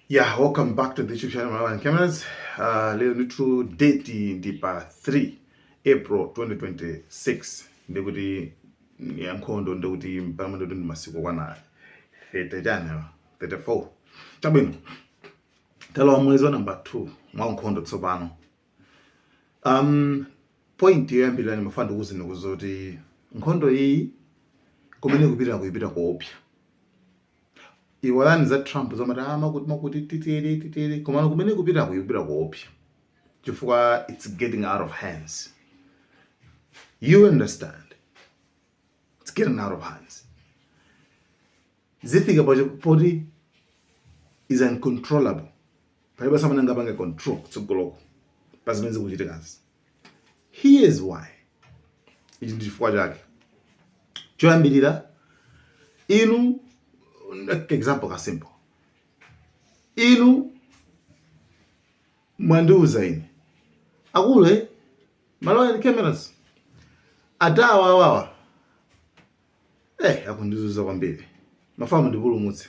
Yeah, welcome back to the YouTube channel Malawian Cameras. Uh, leo ndithu date ndi pa 3 April 2026 ndi kuti ya nkhondo ndi kuti mpamene ndi kuti ndi masiku okwana 30 chani 34 chabwino talowa mwezi wa number 2 mwa nkhondo tsopano um point yoyambirira ndimafuna ndikuuzeni kuti nkhondo iyi kumene ikupita ikuipira koopsa iwalani za Trump zomati ah, makuti makuti titere titere, komano kumene ikupita ikuyipira koopsa chifukwa it's getting out of hands. You understand? It's getting out of hands. Zifika poti is uncontrollable. Palibenso amene angapange control kutsogoloko pa zimene zikuchitikazi. Here's why. Ichi ndi chifukwa chake. Choyambirira inu example ka simple. Inu mwandiuza ine akulu a Malawian Cameras anthu awa awawa eh akundizuza kwambiri ndimafuna mundipulumutse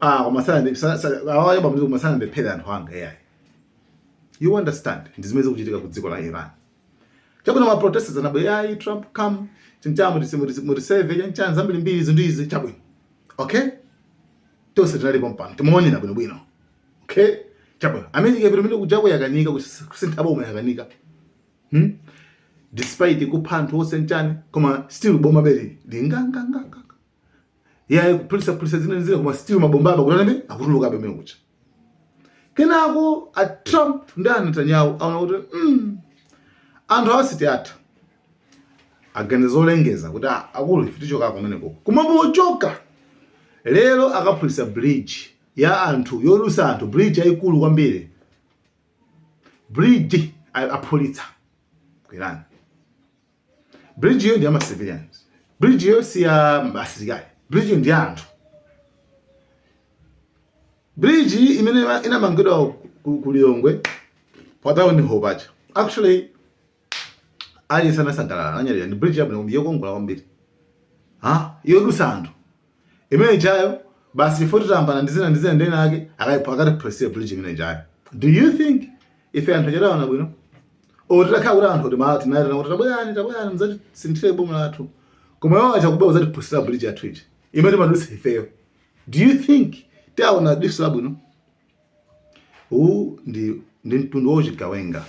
ah koma osanena awayo bamuzi koma osanena mundiphere anthu anga yayi you understand ndi zimene zikuchitika ku dziko la Iran chabwino ma protesters anabwera ayi Trump come chinchani mutiseve chanichani zambirimbiri izi ndi izi chabwino okay tonse tinalipo pompano timaonera bwino bwino okay chabwino America yapita kumene kujaku yakanika kusintha boma yakanika hmm? despite kupha anthu onse nchani koma still boma be lili nganganga yayi kuphulitsaphulitsa zina zina koma still mabomba aku Iran akutulukabe kumene kuja kenako a Trump ndi a Netanyahu aona kuti mm, anthu awa sitiwatha aganiza olengeza kuti ah, akulu ife tichoka kumeneko koma pochoka lero akaphulitsa bridge ya anthu yodutsa anthu bridge yayikulu kwambiri bridge aphulitsa ku Iran bridge yo ndi ya ma civilians bridge yo si ya asilikali bridge yo ndi ya anthu bridge iyi imene ima- inamangidwa ku, ku Lilongwe patauni po paja actually aliyense anasangalala ananyadira ndi bridge yabwino kwambiri yokongola kwambiri ha yodutsa anthu imene ijayo basi chifukwa tayambana ndi zina ndi zina ndi ena ake akuti akatiphulitsire bridge imene ijayo do you think ife anthu tingawaone bwino olo titakhala kuti anthu tima tinawaitana kuti tabwerani tabwerani mudzatisinthire boma lathu koma iwo aja kubwera kudzatiphulitsira bridge yathu ija imene timadutsa ifeyo do you think tiwaona diso labwino Uwu ndi, ndi mtundu wa uchigawenga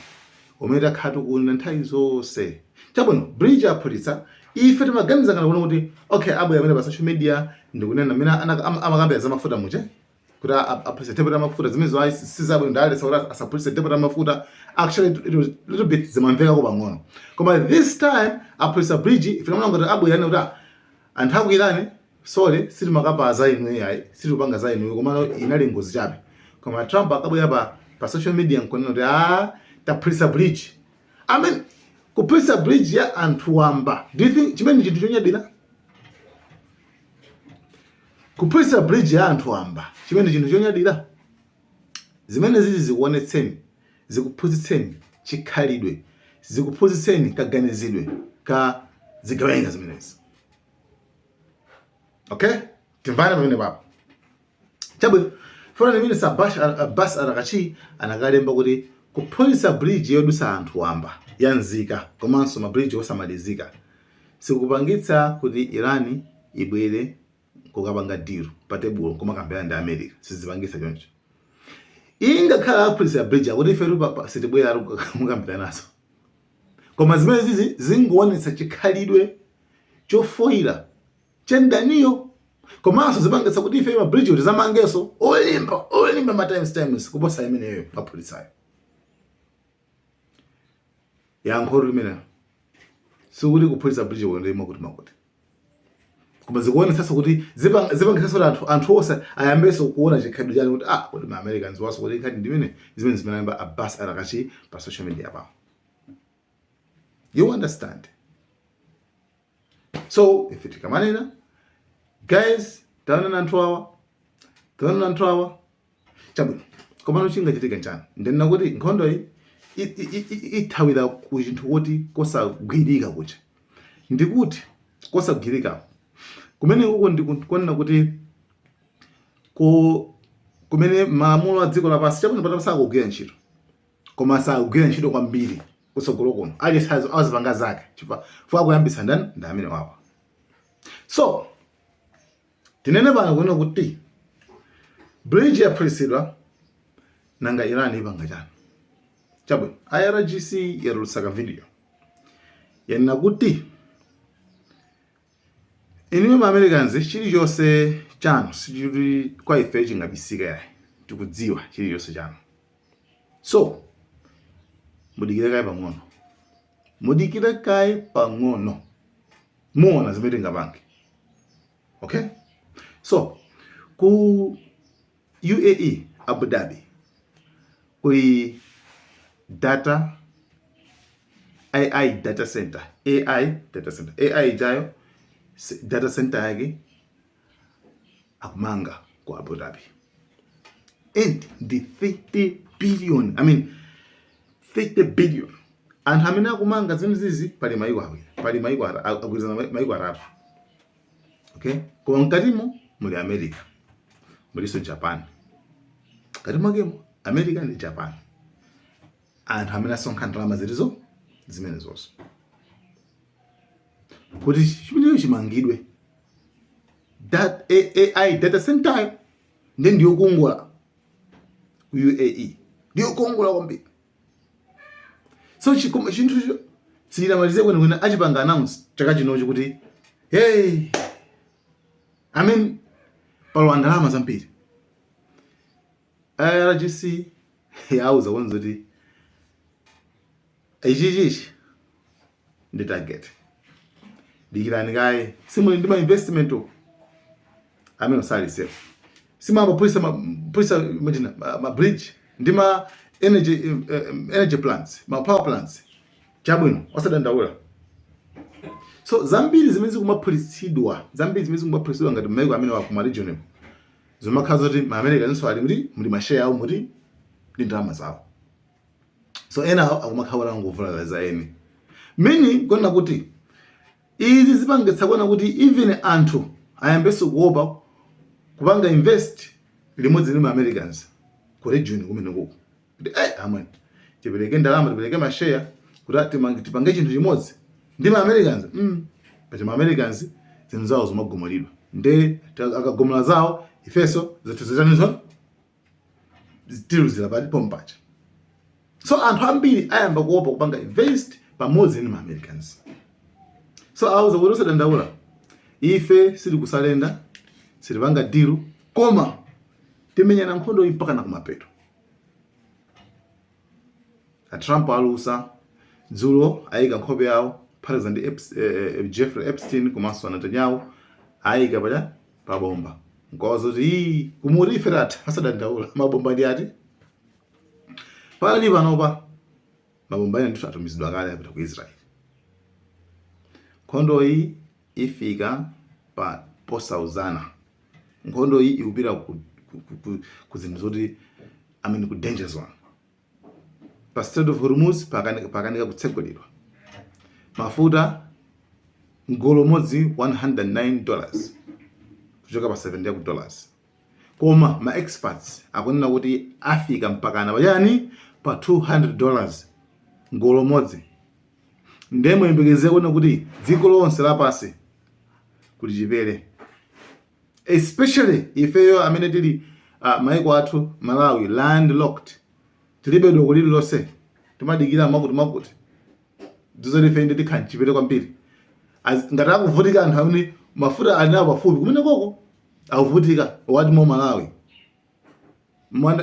umene takhala tikuwunena nthawi zonse. Chabwino, bridge aphulitsa, ife timaganiza ngati kuno kuti okay, abwera amene pa social media ndikunena mmene amakambira za mafuta muje kuti aphulitsa depot la mafuta zimenezo si zabwino ndaletsa kuti asaphulitse depot la mafuta actually it was little bit zimamvekako pang'ono koma this time aphulitsa bridge ife timaona kuti abwera anene kuti anthu akwirane sorry sitimakamba za inuyo ayi sitikupanga za inuyo komano inali ngozi chabe koma trump akabwera pa, pa social media nkunena kuti ah taphulisa bridge i mean kuphulisa bridge ya anthu wamba do you think chimenechi nchinthu chonyadira kuphulisa bridge ya anthu wamba chimenechi nchinthu chonyadira zimenezizi zikuonetseni zikuphunzitseni chikhalidwe zikuphunzitseni kaganizidwe ka zigawenga zimenezi okay timvane pamenepapo chabwino foreign minister Abbas Araghchi anakalemba kuti kuphulitsa bridge yodusa anthu wamba ya nzika komanso ma bridge osamalizika sikupangitsa kuti iran ibwere kukapanga deal pa tebulo kumakambirana ndi america sizipangitsa choncho ngakhale aphulitsa bridge akuti ife sitibwera kukambiranaso Koma zimenezizi zingoonetsa chikhalidwe chofoila cha mdaniyo komanso zipangitsa kuti ife ma bridge tizamangenso olimba olimba ma times times kuposa imeneyo aphulitsayo. Yankhotu limenelo sikuti kuphulitsa bridge ndi mwakuti mwakuti. koma zikuonetsanso kuti zipangitsanso kuti anthu anthu onse ayambenso kuona chikhalidwe chawo kuti ah kodi ma americans waso kodi nkhani ndimene zimene walemba Abbas Araghchi pa social media pao you understand so ife tikamanena guys taonani anthu awa taonani anthu awa chabwino komano chingachitike nchani ndinena kuti nkhondoyi ithawira kuchidwa kuti kosagwirika kuchedwa kuti kosagwirika kumene uko ndikunena kuti ko kumene malamulo a dziko lapansi chabwino pano sakugwira ntchito koma sakugwira ntchito kwambiri kutsogolo kuno aliyense azipanga zake chifukwa akuyambitsa ndani ndi amenewawa so Tinene pano kunena kuti bridge yaphulitsidwa nanga Iran ipanga chani? Chabwino, IRGC yatulutsa ka video yanena kuti inuyo ma Americans chilichonse chanu sichili kwa ife chingabisika yayi, tikudziwa chilichonse chanu so mudikire kaye pang'ono. mudikire kaye pang'ono muona zimene tingapange okay so ku UAE Abu Dhabi kuli data AI data center AI data center AI ijayo data center yake akumanga ku Abu Dhabi and ndi 30 billion I mean 30 billion anthu amene akumanga zinthu zizi pali maiko awiri pali maiko agwirizana maiko atatu okay koma mkatimo muli America mulinso Japan mkati mwakemo America ndi Japan anthu amene asonkha ndalama zili zimenezozo kuti chimenecho chimangidwe that AI data center nde ndiyokongola ku UAE ndiyokongola kwambiri so chinthu sichinamalize kwenikweni achipanga announce chaka chinochi kuti hey I mean palowa ndalama zambiri IRGC yauza kunena kuti ichichichi ndi target dikirani kaye simuli ndi ma investment uko amene osali safe simaba pulisa ma pulisa imagine ma, ma bridge ndi ma energy uh, energy plants ma power plants chabwino osadandaula so zambiri zimene zikumaphulitsidwa zambiri zimene zikumaphulitsidwa ngati maiko amene akuma regional zimakhala zokuti ma americaninso ali muli ma share awo muli ndi ndalama zawo so ena awo akumakhala ongovulala za eni I mean kunena kuti izi zipangitsa kunena kuti even anthu ayambenso kuopa kupanga invest limodzi ndi ma americans ku region kumenekuko kuti eh amwene tipereke ndalama tipereke masheya kuti a- timange- tipange chinthu chimodzi ndi ma americans mm. paja ma americans zinthu zawo zimagumulidwa nde ta- akagumula zawo ifenso zathu zitanizo tiluzira pati pompaja so anthu ambiri ayamba kuopa kupanga invest pamodzi ndi ma americans so auza kuti osadandaula ife sitikusarenda sitipanga deal koma timenyana nkhondo iyi mpakana kumapeto a trump alusa dzulo ayika nkhope yawo kuphatikiza ndi Eps- eh, eh, jeffrey epstein komanso a netanyahu ayika pata pabomba nkuwauza kuti "Ii, mumati ife tatha osadandaula mabomba ndi ati pakali panopa mabomba ena ndithu atumizidwa kale apita ku israel nkhondo iyi ifika pa posauzana Nkhondo iyi ikupita ku, ku, ku, ku, ku zinthu zoti I mean ku danger zone. Pa Strait of Hormuz pakanika, pakanika kutsegulidwa. Mafuta mgolo umodzi 109 dollars kuchoka pa 70 dollars. Koma ma experts akunena kuti afika mpakana pachani pa 200 dollars mgolo umodzi. ndiye muyembekezere kuona kuti dziko lonse lapansi kuli chipere especially ifeyo amene tili uh, maiko athu malawi landlocked tilibe doko lililonse timadikira mwakuti mwakuti ndiye zoti ife nde tikhala mchipere kwambiri ngati akuvutika anthu amene mafuta ali nawo pafupi kumene koko akuvutika what more malawi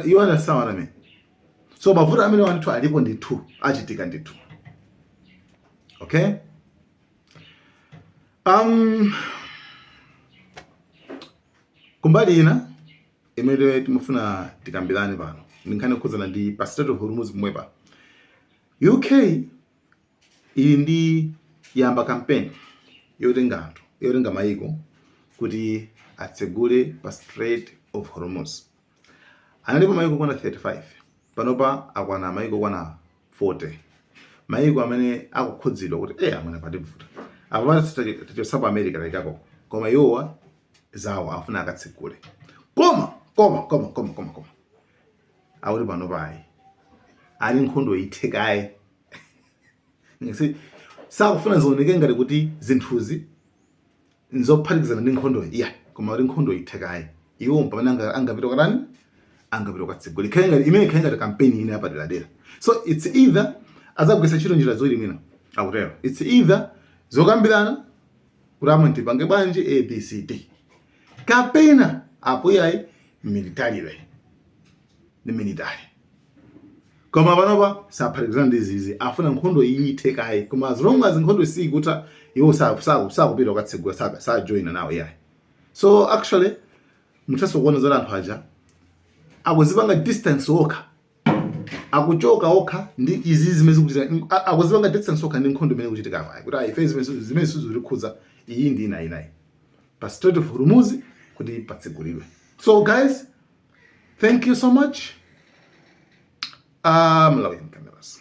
you understand what I mean so mavuto amenewa ndithu alipo ndithu achitika ndithu okay um, kumbali ina imene timafuna tikambirane pano ndi nkhani yokhudzana ndi pa Strait of Hormuz pomwepa uk ili ndi yamba kampeni yotenga anthu yotenga mayiko kuti atsegule pa Strait of Hormuz. Analipo mayiko okwana 35 panopa akwana mayiko okwana 40 mayiko amene akukhudzidwa kuti eya amwene pativuta apo tachotsanipo America laikako koma iwowa zawo afuna akatsegule koma koma koma koma koma koma akuti panopa ayi ati nkhondo ithe kaye sakufuna zioneke ngati kuti zinthuzi nzophatikizana ndi nkhondoyi iyayi koma ati nkhondo ithe kaye iwo mpamene angapita katani angapita kukatsegula ikhale ngati imene ikhale ngati kampeni ina yapaderadera so its either azagwiritsa ntchito njira ziwiri mwina akutero its either zokambirana kuti amwene tipange bwanji abcd kapena apo yayi military ndi military koma panopa saphatikizana ndi zizi afuna nkhondo iyi ithe kaye koma as long as nkhondo si ikutha iwo sakupita kukatsegula sajoina nawo yayi so actually muthaso kuona zoti anthu aja akuzipanga distance okha akuchoka okha ndi izi zimene zikuchitika mm, a- akuzipanga distance okha ndi nkhondo imene ikuchitika apayi kuti ayi ife zimenezi sizi- zimenezi sizikutikhudza iyi ndi ina inayi ya pa Strait of Hormuz kuti patsegulidwe so guys thank you so much uh, Malawian cameras